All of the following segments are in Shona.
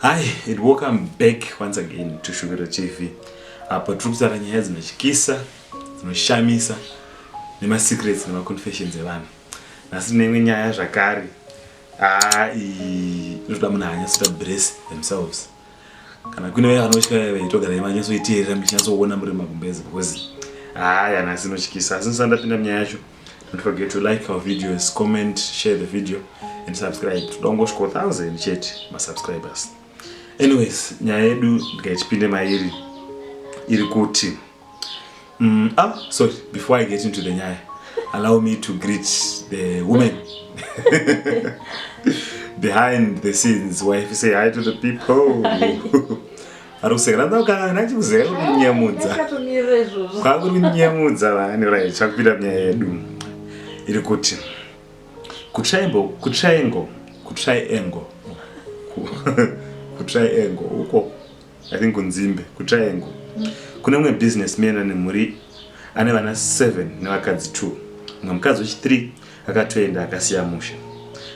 Hi, and welcome back once again to Shuviro TV. Apo tiri kutaura nyaya dzinotyisa, dzinoshamisa, nemasecrets nemaconfessions evanhu. Nhasi tine imwe nyaya zvakare. Ah, inotoda munhu anyatsoita brace themselves. Kana kune vaya vanotya vaya vaitogara vanyatsoiteerera muchinyatsoona muri magumbezi because ah, nhasi inotyisa. Asi ndisati ndapinda munyaya yacho. Don't forget to like our videos, comment, share the video and subscribe. Toda kungosvika 1000 chete masubscribers. Anyways, nyaya yedu ndikaitipinde mairi iri kuti mm, ah, sorry, before I get into the nyaya, allow me to greet the woman behind the scenes. Wife, say hi to the people. ari kusekera ndakanga ndachikuzeka kuri kunyemudza kwakuri kunyemudza vani rai chakupinda munyaya yedu iri kuti kutriangle kutriangle kutriangle kutriangle uko i think kunzimbe kutriangle kune mumwe business man ane mhuri ane vana 7 nevakadzi 2 mumwe mukadzi wechi 3 akatoenda akasiya musha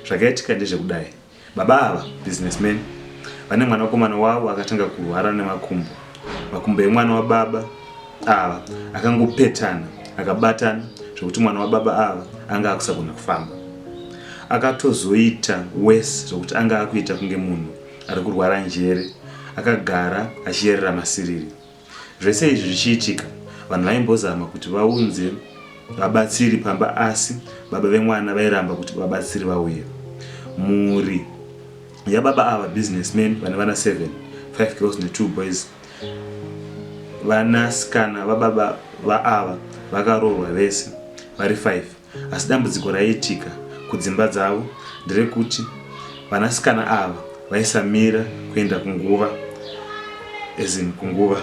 zvakaitika ndezvekudai Baba ava, businessman, vane mwanakomana wavo akatanga kurwara nemakumbo. Makumbo emwana wababa ava akangopetana akabatana zvekuti mwana wababa ava anga akusagona kufamba. Akatozoita worse zvekuti anga akuita kunge munhu ari kurwara njere akagara achiyerera masiriri. Zvese izvi zvichiitika, vanhu vaimbozama kuti vaunze vabatsiri pamba asi baba vemwana vairamba kuti vabatsiri vauye. Mhuri yababa ava, businessman vane vana seven, five girls netwo boys. Vanasikana vababa vaava vakaroorwa vese vari five. Asi dambudziko raiitika kudzimba dzavo nderekuti vanasikana ava vaisamira kuenda kunguva as in kunguva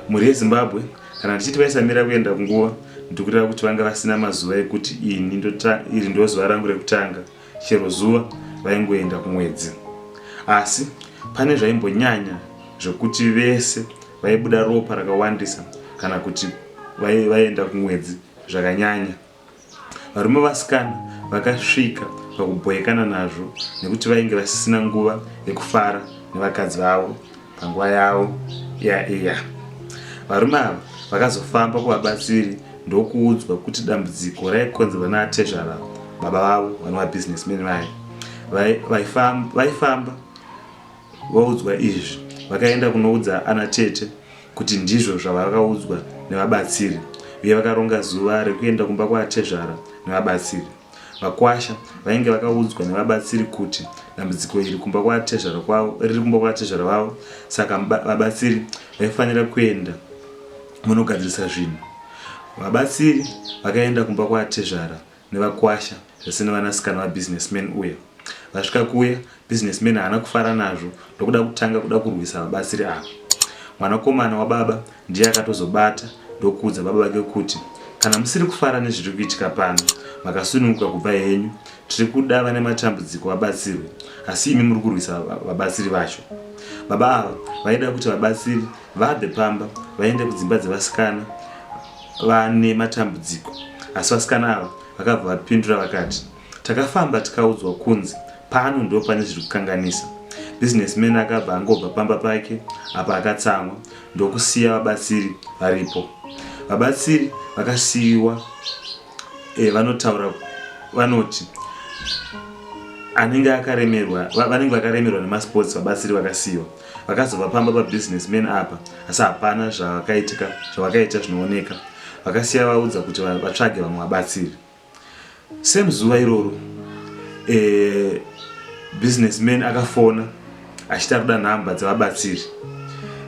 mhuri yezimbabwe kana tichiti vaisamira kuenda kunguva ndikureva kuti vanga vasina mazuva ekuti ini iri ndozuva rangu rekutanga chero zuva vaingoenda kumwedzi asi pane zvaimbonyanya zvekuti vese vaibuda ropa rakawandisa kana kuti vaienda kumwedzi zvakanyanya. Varume vasikana vakasvika pakubhoekana nazvo nekuti vainge vasisina nguva yekufara nevakadzi vavo panguva yavo iya iya. Varume ava vakazofamba kuvabatsiri ndokuudzwa kuti dambudziko raikonzerwa naatezvara baba vavo vanova businessmen vaye vaifamba Vaudzwa izvi, vakaenda kunoudza ana tete kuti ndizvo zvavakaudzwa nevabatsiri uye vakaronga zuva rekuenda kumba kwaatezvara nevabatsiri. Vakwasha vainge vakaudzwa nevabatsiri kuti dambudziko iri kumba kwaatezvara kwavo, riri kumba kwaatezvara vavo saka vabatsiri vaifanira kuenda vonogadzirisa zvinhu. Vabatsiri vakaenda kumba kwaatezvara nevakwasha zvese nevanasikana vabusinessman uya. Vasvika kuya businessman haana kufara nazvo ndokuda kutanga kuda kurwisa vabatsiri ava. Mwanakomana wababa ndiye akatozobata ndokuudza baba vake kuti kana musiri kufara nezviri kuitika pano makasununguka kubva henyu tiri kuda vane matambudziko vabatsirwe asi imi muri kurwisa vabatsiri vacho. Baba ava vaida kuti vabatsiri Vabve pamba vaende kudzimba dzevasikana vane matambudziko asi vasikana ava vakabva vapindura vakati, Takafamba tikaudzwa kunzi pano ndipo pane zviri kukanganisa. Businessman akabva angobva pamba pake apa akatsamwa ndokusiya vabatsiri varipo. Vabatsiri vakasiiwa. eh, vanotaura vanoti anenge akaremerwa vanenge vakaremerwa nemasports vabatsiri vakasiyiwa vakazova pamba pabusiness man apa asi hapana zvavakaitika zvavakaita zvinooneka vakasiya vaudza kuti vatsvage vamwe vabatsiri same zuva iroro e, business man akafona achita kuda nhamba dzevabatsiri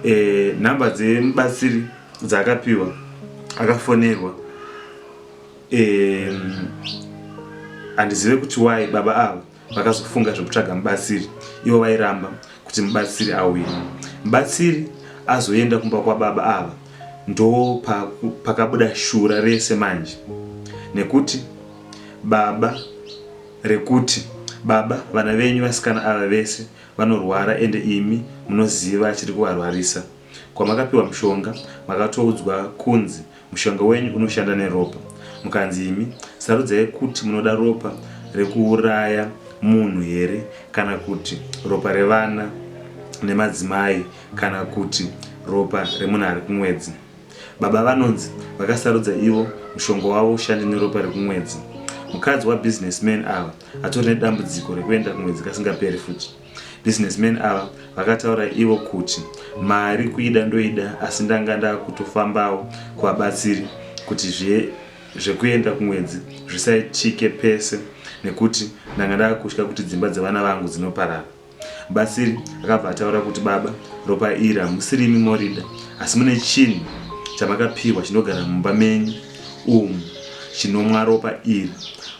e, nhamba dzemubatsiri dzaakapiwa akafonerwa handizive kuti wai baba ava vakazofunga zvekutsvaga mubatsiri ivo vairamba kuti mubatsiri auye mubatsiri azoenda kumba kwababa ava ndo pakabuda shura rese manje nekuti baba rekuti baba vana venyu vasikana ava vese vanorwara ende imi munoziva chiri kuvarwarisa Kwamakapiwa mushonga makatoudzwa kunzi mushonga wenyu unoshanda neropa mukanzi imi sarudzai kuti munoda ropa rekuuraya munhu here kana kuti ropa revana nemadzimai kana kuti ropa remunhu ari kumwedzi. Baba vanonzi vakasarudza ivo mushonga wavo ushande neropa rekumwedzi. Mukadzi wabusinessman ava atori nedambudziko rekuenda kumwedzi kasingaperi futi. Businessman ava vakataura ivo kuti mari kuida ndoida asi ndanga ndakutofambawo kuvabatsiri kuti zve zvekuenda kumwedzi zvisaitike pese nekuti ndanga ndakutya kuti dzimba dzevana vangu dzinoparara. Mubatsiri akabva ataura kuti baba ropa iri hamusirimi morida asi mune chinhu chamakapihwa chinogara mumba menyu umu chinomwa ropa iri.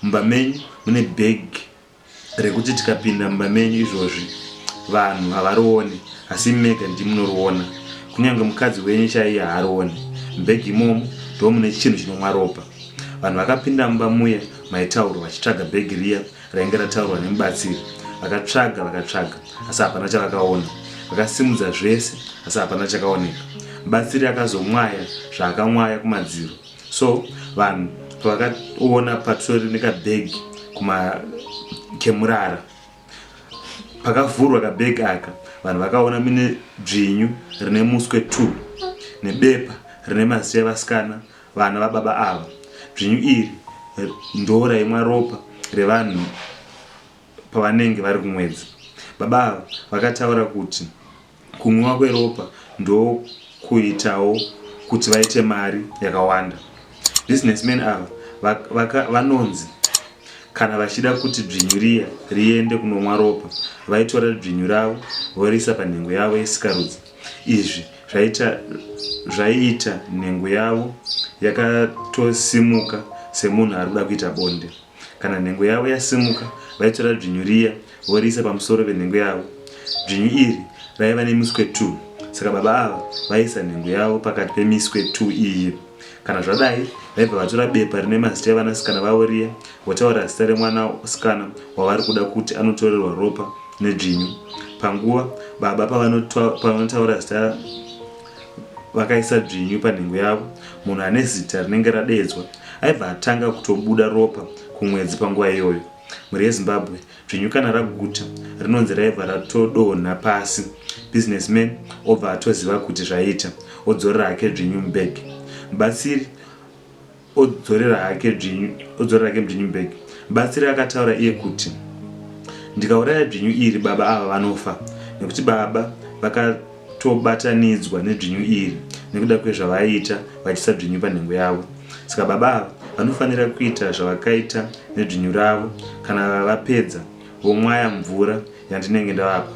Mumba menyu mune bag. rekuti tikapinda mumba menyu izvozvi vanhu havarione asi imi mega ndimunoriona kunyange mukadzi wenyu chaiye haarione mubhegi imomo ndo mune chinhu chinomwa ropa vanhu vakapinda mumba muya maitaurwa vachitsvaga bhegi riya rainge rataurwa nemubatsiri vakatsvaga vakatsvaga asi hapana chavakaona vakasimudza zvese asi hapana chakaoneka mubatsiri akazomwaya zvaakamwaya kumadziro So vanhu pavakaona patori nekabag kuma kemurara pakavhurwa kabag aka vanhu vakaona mine dzvinyu rine muswe two nebepa rine mazita evasikana vana vababa ava dzvinyu iri ndo raimwa ropa revanhu pavanenge vari kumwedzi baba ava vakataura kuti Kunwiwa kweropa ndokuitawo kuti vaite mari yakawanda. Businessmen ava vanonzi kana vachida kuti dzvinyu riya riende kunomwa ropa vaitora dzvinyu ravo voriisa panhengo yavo yesikarudzi. Izvi zvaiita nhengo yavo yakatosimuka semunhu ari kuda kuita bonde. Kana nhengo yavo yasimuka, vaitora dzvinyu riya voriisa pamusoro penhengo yavo. Dzvinyu iri raiva nemiswe two, saka baba ava vaiisa nhengo yavo pakati pemiswe two iyi. Kana zvadai, vaibva vatora bepa rine mazita evanasikana vavo riya, votaura zita remwana sikana wavari kuda kuti anotorerwa ropa nedzvinyu. Panguva baba pavanotaura zita. vakaisa dzvinyu panhengo yavo munhu ane zita rinenge radeedzwa aibva atanga kutobuda ropa kumwedzi panguva iyoyo mhuri yezimbabwe dzvinyu kana raguta rinonzi raibva ratodonha pasi businessman obva atoziva kuti zvaita odzorera hake dzvinyu mubhegi mubatsiri odzorera hake dzvinyu, odzorera hake mdzvinyu bag. Mubatsiri akataura iye kuti, Ndikauraya dzvinyu iri baba ava vanofa nekuti baba vakatobatanidzwa nedzvinyu iri nekuda kwezvavaiita vachiisa dzvinyu panhengo yavo. Saka baba ava vanofanira kuita zvavakaita nedzvinyu ravo kana vapedza vomwaya mvura yandinenge ndavapa.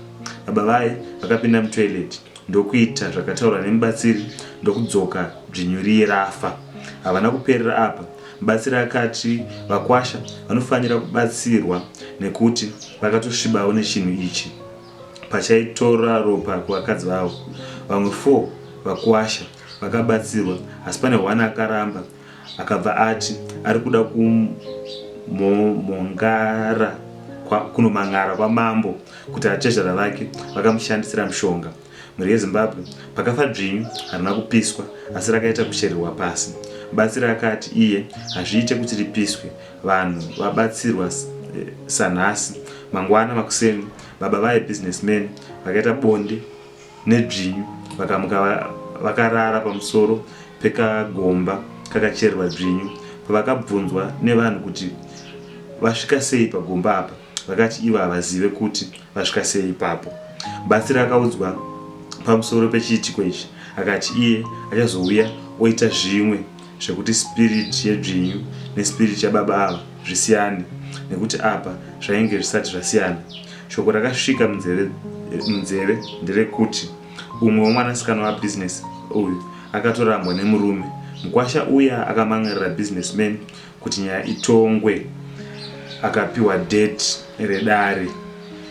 Baba vaye vakapinda mutoilet ndokuita zvakataurwa nemubatsiri ndokudzoka dzvinyu riye rafa. Havana kuperera apa, mubatsiri akati vakwasha vanofanira kubatsirwa nekuti vakatosvibawo nechinhu ichi pachaitora ropa kuvakadzi vavo. Vamwe four vakwasha vakabatsirwa asi pane one akaramba Akabva ati ari kuda kumhomhongara kunomhan'ara kwamambo kuti atezvara vake vakamushandisira mushonga. Mhuri yeZimbabwe pakafa dzvinyu harina kupiswa asi rakaita kuchererwa pasi. Mubatsiri akati iye hazviite kuti ripiswe vanhu vabatsirwa sanhasi. Mangwana makuseni baba vaye businessman vakaita bonde nedzvinyu vakamuka vakarara pamusoro pekagomba kakachererwa dzvinyu. Pavakabvunzwa nevanhu kuti vasvika sei pagomba apa, vakati ivo havazive kuti vasvika sei ipapo. Mubatsiri akaudzwa pamusoro pechiitiko ichi akati iye achazouya oita zvimwe zvekuti spirit yedzvinyu nespirit yababa ava zvisiyane nekuti apa zvainge zvisati zvasiyana. Shoko rakasvika munzeve munzeve nderekuti umwe wemwanasikana wabusiness uyu akatorambwa nemurume. Mkwasha uya akamangarira business man kuti nyaya itongwe akapiwa date redare.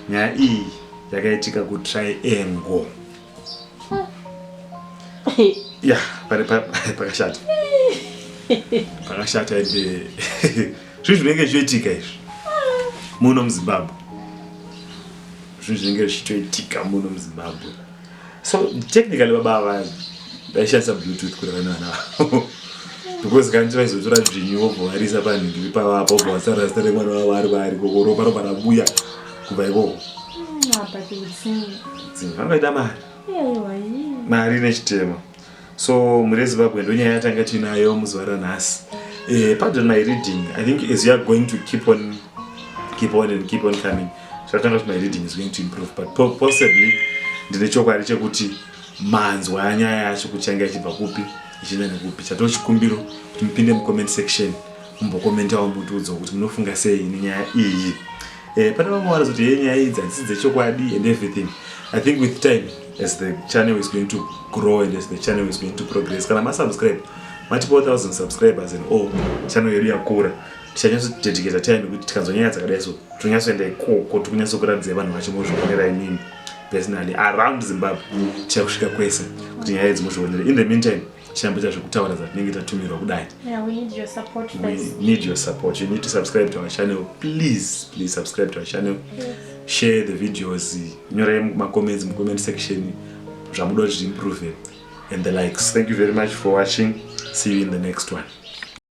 Nyaya iyi yakaitika kuTriangle. ya pakashata pakashata ende zvinhu zvinenge zvichiitika izvi muno muzimbabwe zvinhu zvinenge zvichitoitika muno muzimbabwe so technically baba ava vaishandisa bluetooth kureva nevana vavo because kanti vaizotora dzvinyu vobhovarisa panhingi pavapa vobhovatsarasita remwana vavo ari vaari kokoropa ropa rabuya kubva ikoko vangaita mari mari nechitema so mhuri yezimbabwe ndonyaya yatanga tiinayo muzuva ranhasi eh, pardon my reading i think as youare going to keep on keep on and keep on coming zvatanga kuti my reading is going to improve but possibly ndine chokwadi chekuti manzwa anyaya yacho kuti change achibva kupi ichienda nekupi chatoo chikumbiro kuti mupinde mucomment section mumbokomentawo mutiudzawo kuti munofunga sei nenyaya iyi Eh, pane vamwe vanozoti hey nyaya idzi hadzisi dzechokwadi and everything i think with time as the channel is going to grow and as the channel is going to progress kana masubscribe mati 4000 subscribers and all channel yedu yakura tichanyatsotetekeza time yekuti tikanzwa nyaya dzakadai so tinonyatsoenda ikoko tikunyatsokuratidza vanhu vacho mozvionera imimi personally around zimbabwe tichakusvika kwese kuti nyaya idzi mozvionera in the meantime tichambita zvekutaura zvatinenge tatumirwa kudai yeah, we need your support we need your support you need to subscribe to our channel please please subscribe to our channel yes. share the videos nyorai macomments mucomment section zvamuda kuti zviimprove and the likes thank you very much for watching see you in the next one